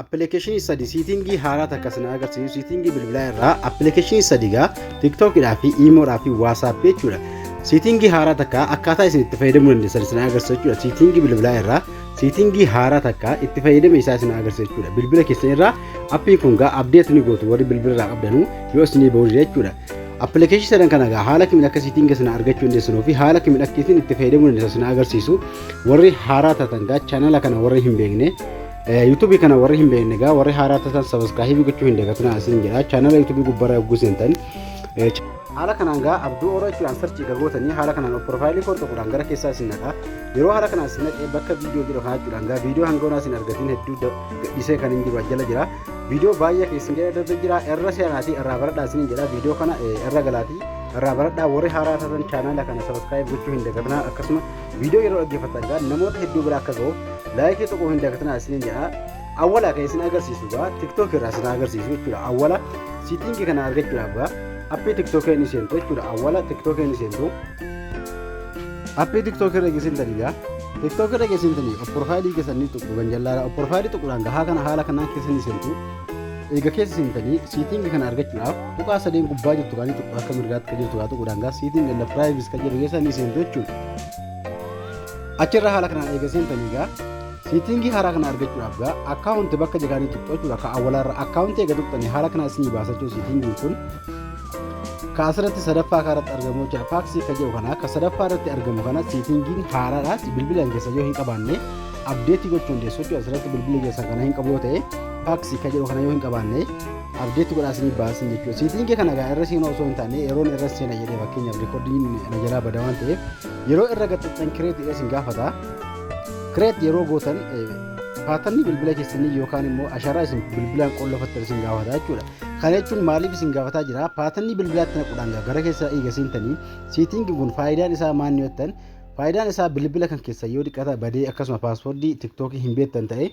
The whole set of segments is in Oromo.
Appilikeeshinii sadi siitingii haaraa takka isin agarsiisu siitingii bilbilaa irraa appilikeeshinii sadi gaa tiiktookidhaa fi iimoodhaa fi waasaappii jechuudha. Siitingii haaraa takka akkaataa isin itti fayyadamuu dandeessan isin agarsiisu jechuudha. Siitingii bilbilaa irraa siitingii haaraa takka itti fayyadama isaa isin agarsiisu jechuudha. Bilbila keessan irraa appiin kun gaa abdeet ni gootu warri bilbila irraa qabdanuu yoo isinii ba'u jechuudha. Appilikeeshinii sadan kana gaa haala kamiin akka siitingii sana argachuu dandeessanuu fi haala kamiin akka isin itti fayyadamuu dandeessan isin agarsiisu warri haaraa taatan gaa chaanala kana warri hin beekne Yuutuubii kana warri hin beekne egaa warri haaraa taatan sabaskaahibii gochuu hin dagatinaa isin jedha. Chaanala yuutuubii gubbaarra yogguu seentan. Haala kanaan gaa abduu oro jechuudhaan sarchii gagootanii haala kanaan of piroofaayilii koo tokkodhaan gara keessaa isin naqa. Yeroo haala kanaan isin naqee bakka viidiyoo jedhu kana jechuudhaan gaa viidiyoo hanga onaa isin argatiin hedduu gadhiisee kan hin jiru jala jira. Viidiyoo baay'ee keessan jedha darbe jira irra seenaatii irraa baradhaa isin jedha viidiyoo kana irra galaatii irraa baradhaa warri haaraa taatan chaanala kana sabaskaahibii gochuu hin dagatinaa akkasuma Viidiyoo yeroo dhaggeeffattan egaa namoota hedduu bira akka ga'uuf laayikii tuquu hin dagatinaa isiniin jedha. Awwala kan isin agarsiisu egaa TikTok irraa isin agarsiisu jechuudha. Awwala siitingii kana argachuudhaaf egaa appii TikTok inni seentu jechuudha. Awwala TikTok inni seentu. Appii TikTok irra isin daligaa. TikTok irra isin daligaa. Of profaayilii keessan ni tuqu ganjallaadha. Of profaayilii tuquudhaan gahaa kana haala kanaan keessa ni seentu. Eega keessa seentanii siitingi kana argachuudhaaf tuqaa sadeen gubbaa jirtu kaanii tuqaa akka mirgaatti kan jirtu haa tuquudhaan gaa siiting and privacy kan jedhu keessa ni seentu jechuudha. Achirra haala kanaan eega seentanii gaa siitingii haaraa kana argachuudhaaf gaa akkaawunti bakka jedhaanii tuqxu jechuudha akka awwalaarra akkaawunti eega tuqxanii haala kanaa isinii baasachuu siitingiin kun ka asirratti sadaffaa kanarratti argamu jechuudha faaksii ka jedhu kana ka sadaffaa irratti argamu kana siitingiin haaraadhaas bilbilaan keessa yoo hin qabaanne abdeetii gochuu dandeessu jechuudha. Asirratti bilbila keessan kana hin qabu yoo ta'e faaksii kan jedhu kana yoo hin qabaanne abdeetti godhaa isinii baasin jechuudha. Siitiin kee kana egaa irra seenaa osoo hin taane yeroon irra seena jedhee fakkeenyaaf riikoordiin na jalaa bada waan ta'eef yeroo irra gaxxixxan kireetii irra isin gaafata. Kireet yeroo gootan paatarni bilbila keessanii yookaan immoo asharaa isin bilbilaan qollofattan isin gaafata jechuudha. Kana jechuun maaliif isin gaafataa jira? Paatarni bilbilaatti naquudhaan gara keessa eega seentanii siitiin kun faayidaan isaa maal yoo ta'an Faayidaan isaa bilbila kan keessan yoo xiqqata badee akkasuma paaspoortii tiktookii hin beektan ta'e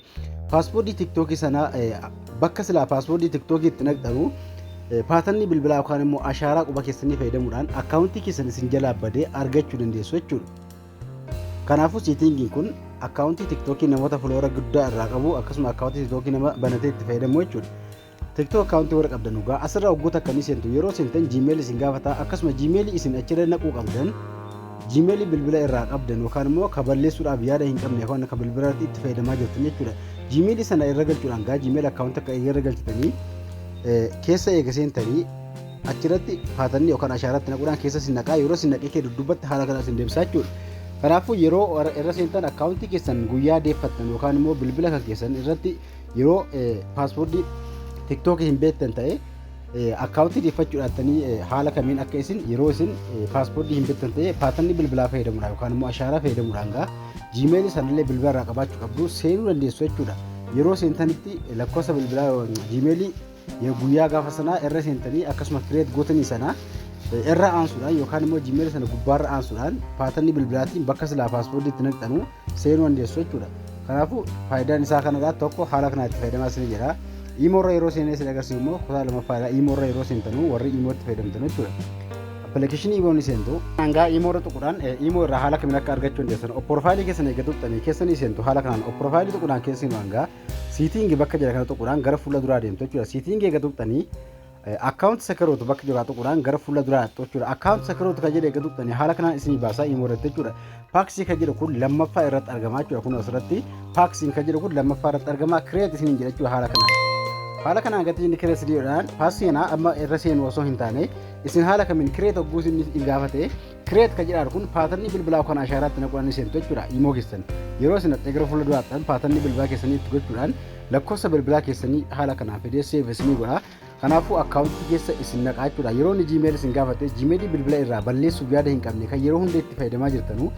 paaspoortii tiktookii sana bakka silaa paaspoortii tiktookii itti naqxanu paatanni bilbilaa yookaan immoo ashaaraa quba keessanii fayyadamuudhaan akkaawuntii keessan isin jalaa badee argachuu dandeessu jechuudha. Kanaafuu siitingiin kun akkaawuntii tiktookii namoota fuloora guddaa irraa qabu akkasuma akkaawuntii tiktookii nama banatee itti fayyadamu jechuudha. TikTok account warra qabdan dhugaa asirra hogguu takka ni seentu yeroo seentan Gmail isin gaafata akkasuma Gmail isin achirra naquu qabdan Gmail bilbila irraa qabdan yookaan immoo ka balleessuudhaaf yaada hin qabne yookaan ka bilbila irratti itti fayyadamaa jirtan jechuudha. Gmail sana irra galchuudhaan gaa Gmail account akka irra galchitanii keessa eega seentanii achirratti paatanni yookaan ashaaratti naquudhaan keessa sin naqaa yeroo sin naqee kee duddubbatti haala kana sin deebisaa jechuudha. Kanaafuu yeroo irra seentan akkaawuntii keessan guyyaa deeffattan yookaan immoo bilbila kan keessan irratti yeroo paaspoortii tiktookii hin beektan ta'e akkaawuntii deeffachuu dhaattanii haala kamiin akka isin yeroo isin paaspoortii hin beektan ta'e paatanni bilbilaa fayyadamuudhaan yookaan immoo ashaaraa fayyadamuudhaan gaa jiimeelii sanallee bilbila irraa qabaachuu qabdu seenuu dandeessu jechuudha. Yeroo seentanitti lakkoofsa bilbilaa jiimeelii guyyaa gaafa sanaa irra seentanii akkasuma kireet gootanii sana irra aansuudhaan yookaan immoo jimeela sana gubbaarra aansuudhaan paatanni bilbilaatiin bakka silaa paaspoortii itti naqxanu seenuu dandeessu jechuudha. Kanaafuu faayidaan isaa kanarraa tokko haala kanaa itti fayyadamaa isin jedha. Iimoorra yeroo seenee isin agarsiisu immoo kutaa lammaffaadha. Iimoorra yeroo seentanu warri iimootti fayyadamtan jechuudha. Appilikeeshinii iimoon seentu hangaa iimoorra tuquudhaan iimoo irraa haala kamiin akka argachuu dandeessan opporfaayilii keessan eeggattuuttanii keessanii seentu haala kanaan opporfaayilii tuquudhaan keessanii hangaa Seating bakka jedha kana tuquudhaan gara fuula duraa deemtu jechuudha. Seating eega tuqxanii account security bakka jiru tuquudhaan gara fuula duraa dhaqxu jechuudha. Account security kan jedhu eega tuqxanii haala kanaan isinii baasaa immoo irratti jechuudha. Paxi kan jedhu kun lammaffaa irratti argama jechuudha. Kun asirratti Paxi kan jedhu kun lammaffaa irratti argama create isiniin jedha jechuudha haala kanaan. Haala kanaan gatii inni kireessi dhiyoodhaan paasii kanaa amma irra seenu osoo hin taane isin haala kamiin kireet hogguu isin hin gaafate Create kan jedhaar kun paatarnii bilbilaa kan ashaaraatti naquudhaan ni seentu jechuudha. Imoo keessan yeroo isin dhaqxee gara fuula duraattan paatarnii bilbilaa keessanii itti gochuudhaan lakkoofsa bilbilaa keessanii haala kanaan fidee save isinii godha. Kanaafuu akkaawuntii keessa isin naqaa jechuudha. Yeroo inni Gmail isin gaafate Gmail bilbila irraa balleessuuf yaada hin qabne kan yeroo hunda itti fayyadamaa jirtanu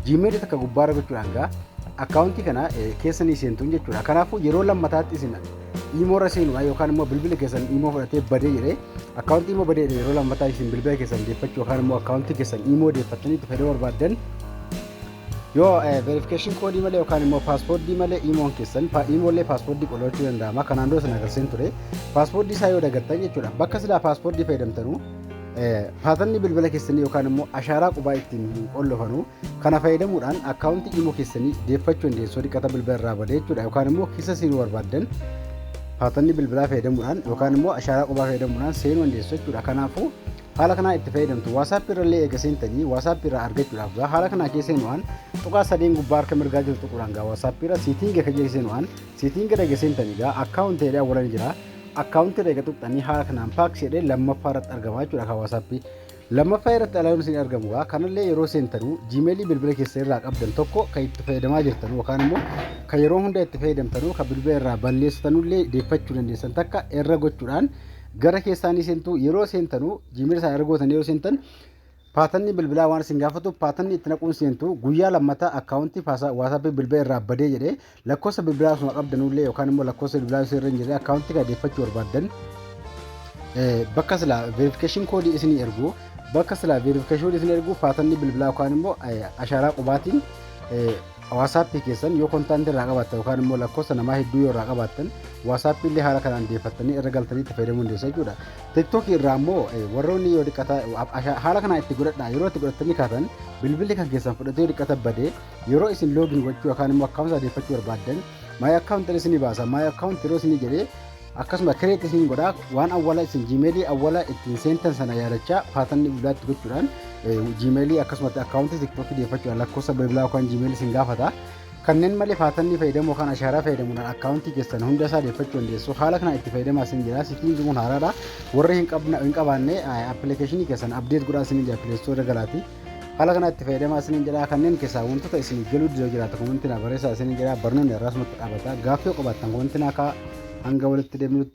Gmail takka gubbaarra gochuudhaan gaa akkaawuntii kana keessa ni seentuun jechuudha. Kanaafuu yeroo lammataatti isin Imoo irra seenuudhaan yookaan immoo bilbila keessan imoo fudhatee badee jedhee akkaawuntii imoo badee jedhee yeroo lammataa isin bilbila keessan deeffachuu yookaan immoo akkaawuntii keessan imoo deeffattanii itti fayyadamuu barbaaddan yoo verification koodii malee yookaan immoo paaspoortii malee imoon keessan imoolee paaspoortii qolachuu danda'ama kanaan dura sana agarsiin ture paaspoortii isaa yoo dagattan jechuudha bakka silaa paaspoortii fayyadamtanuu Paatanni bilbila keessanii yookaan immoo ashaaraa qubaa ittiin hin qollofanu kana fayyadamuudhaan akkaawuntii imo keessanii deeffachuu dandeessu dhiqata bilbila irraa bade jechuudha yookaan immoo kisa seenuu barbaaddan paatanni bilbilaa fayyadamuudhaan yookaan immoo ashaaraa qubaa fayyadamuudhaan seenuu dandeessu jechuudha kanaafuu haala kanaa itti fayyadamtu waasaappi irrallee eega seentanii waasaappi irraa argachuudhaaf gaa haala kanaa kee seenu'aan tuqaa sadeen gubbaa harka mirgaa jiru tuquudhaan gaa waasaappi irra siitiin gaka jee seenu'aan siitiin gara geseentanii gaa akkaawuntii jedhee awwalan jira Akkaawuntii irra eega tuqxanii haala kanaan paaks jedhee lammaffaa irratti argama jechuudha kan WhatsApp. Lammaffaa irratti alaaluun isin argamu gaa kanallee yeroo seentanuu Gmail bilbila keessan irraa qabdan tokko kan itti fayyadamaa jirtan yookaan immoo kan yeroo hunda itti fayyadamtanuu kan bilbila irraa balleessitanullee deeffachuu dandeessan takka irra gochuudhaan gara keessaanii seentu yeroo seentanuu Gmail isaa irra gootanii yeroo seentan Paatanni bilbilaa waan isin gaafatu paatanni itti naquun seentu guyyaa lammataa akkaawuntii faasa waasaappii bilbila irraa badee jedhee lakkoofsa bilbilaa osuma qabdanuullee yookaan immoo lakkoofsa bilbilaa osoo irra hin jirre akkaawuntii kana deeffachuu barbaaddan bakka silaa veerifikeeshin koodii isinii ergu bakka silaa veerifikeeshin isin ergu paatanni bilbilaa yookaan immoo ashaaraa qubaatiin Waasaappii keessan yoo kontaantii irraa qabaattan yookaan immoo lakkoofsa namaa hedduu yoo irraa qabaattan waasaappii illee haala kanaan deeffattanii irra galtanii itti fayyadamuu dandeessa jechuudha. Tiktookii irraa immoo warroonni yoo xiqqataa haala kanaan itti godhadha yeroo itti godhattanii kaatan bilbilli kan keessan fudhatee yoo xiqqata badee yeroo isin loogiin gochuu yookaan immoo akkaawuntii adeeffachuu barbaaddan maayii akkaawuntiin isinii baasa maayii akkaawuntii yeroo isinii jedhee akkasuma kireet isin godha waan awwala isin jiimeelii awwala ittiin seentan sana yaadachaa paatanni bilbilaatti gochuudhaan jiimeelii akkasumatti akkaawuntii tiktookii deeffachuudhaan lakkoofsa bilbilaa yookaan jiimeelii isin gaafata kanneen malee paatanni fayyadamu yookaan ashaaraa fayyadamuudhaan akkaawuntii keessan hunda isaa deeffachuu dandeessu haala kanaan itti fayyadamaa isin jira sitiin jimuun haaraadha warri hin qabaanne appilikeeshinii keessan abdeet godhaa isin jira pileestoo irra galaati Haala kanaa itti fayyadamaa isiniin jedhaa kanneen keessaa wantoota isiniif galuu didoo jiraata komantinaa barreessaa isiniin jedhaa barnoonni irraasumatti dhaabata gaaffii qabaattan komantinaa kaa hanga walitti deemnutti